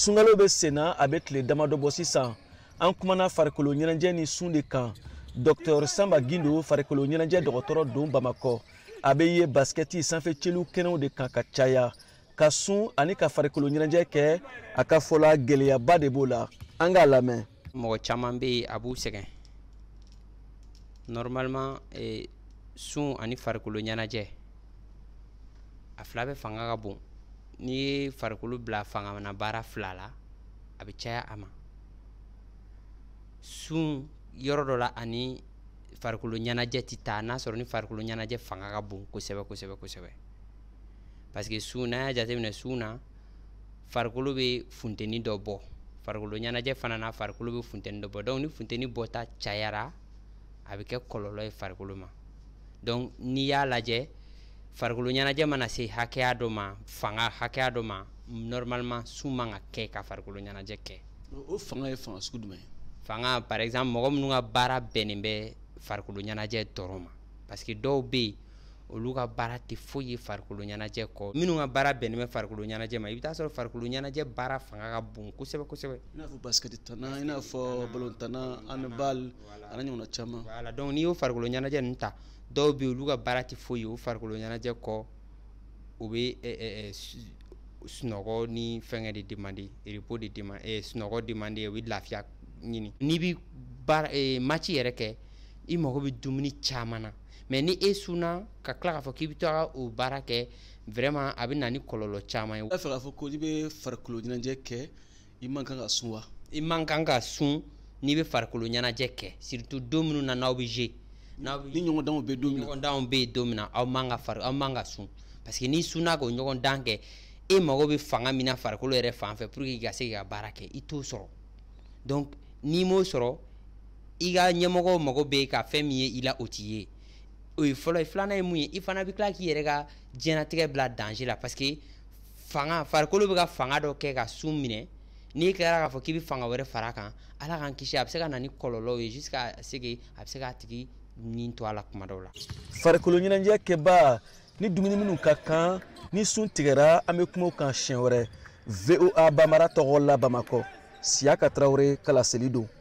sunkalo bɛ senna a bɛ tile damadɔ bɔ sisan an kumana farikolo ɲɛnajɛ ni sun de kan dɔktɔr sanba gindo farikolo ɲɛnajɛ dɔgɔtɔrɔ don bamakɔ a bɛ ye basikɛti sanfɛ celu kɛnɛw de kan ka caya ka sun ani ka farikolo ɲɛnajɛ kɛ a ka fɔ la gɛlɛyaba de b'o la an k'a lamɛn mɔgɔ caman bɛ yen a b'u sɛgɛn normalement eh, sun ani farikolo ɲɛnajɛ a fila bɛ fanga ka bon n'i ye farikolo bila fanga na baara fila la a bɛ caya a ma sun yɔrɔ dɔ la ani farikolo ɲɛnajɛ tɛ taa n'a sɔrɔ ni farikolo ɲɛnajɛ fanga ka bon kosɛbɛ kosɛbɛ kosɛbɛ parce que sun n'a y'a jateminɛ sun na farikolo bɛ funteni dɔ bɔ farikolo ɲɛnajɛ fana na farikolo bɛ funteni dɔ bɔ donc ni funteni bɔta cayara a bɛ kɛ kɔlɔlɔ ye farikolo ma donc n'i y'a lajɛ farikolo ɲɛnajɛ mana se hakɛya dɔ ma fanga hakɛya dɔ ma normalement sun man ka kɛ ka farikolo ɲɛnajɛ kɛ o fanga ye fanga sugu jumɛn ye fanga par exemple mɔgɔ minnu ka baara bɛnnen bɛ farikolo ɲɛnajɛ dɔrɔn ma parce que dɔw bɛ yen olu ka baara tɛ foyi ye farikolo ɲɛnajɛ kɔ minnu ka baara bɛnnen bɛ farikolo ɲɛnajɛ ma i bɛ t'a sɔrɔ farikolo ɲɛnajɛ baara fanga ka bon kosɛbɛ kosɛbɛ i n'a fɔ basikɛti tanna i n'a fɔ balontanna handball an'a ɲɔgɔnna caman voilà donc n'i y'o farikolo ɲɛnajɛ ninnu ta dɔw bɛ yen olu ka baara tɛ foyi ye o farikolo ɲɛnajɛ kɔ u bɛ eh, eh, eh, sunɔgɔ ni fɛngɛ de demander repos de demander sunɔgɔ demander u bɛ lafiya ɲini n'i bɛ baara match yɛrɛ kɛ i mago bɛ dumuni caman na mais ni e sunna ka tila k'a fɔ k'i bɛ taa o baara kɛ vraiment a bɛ na ni kɔlɔlɔ caman ye. i b'a fɛ k'a fɔ ko n'i bɛ farikolo ɲɛnajɛ kɛ i man kan ka sun wa. i man kan ka sun n'i bɛ farikolo ɲɛnajɛ kɛ surtout don minnu na n'aw bɛ jouer. n'aw bɛ ni ɲɔgɔndanw bɛ don min na ɲɔgɔndanw bɛ yen don min na aw man ka fari aw man ka sun parce que n'i sunna k'o ɲɔgɔndan kɛ e mago bɛ fanga min na farikolo yɛrɛ fan fɛ pour que i ka se k'i ka baara kɛ i t'o sɔrɔ donc n'i m'o sɔrɔ. i ka ɲɛmɔgɔw mago bɛ ka fɛn min ye i la o tɛ ye o ye fɔlɔ ye filanan ye mun ye i fana bɛ tila k'i yɛrɛ ka diɲɛnatigɛ bila danger la parce que fanga farikolo bɛ ka fanga dɔ kɛ ka sun minɛ n'i tilara k'a fɔ k'i bɛ fanga wɛrɛ fara a kan ala k'an kisi a bɛ se ka na ni kɔlɔlɔw ye jusqu'à ce que a bɛ se k'a tigi ni to a la kuma dɔw la farikolo ɲɛnajɛ kɛbaa ni dumuni minnu ka kan ni sun tigɛra an bɛ kuma o kan siɲɛ wɛrɛ voa bambara tɔgɔ la bamakɔ siyaka tarawele ka laseli don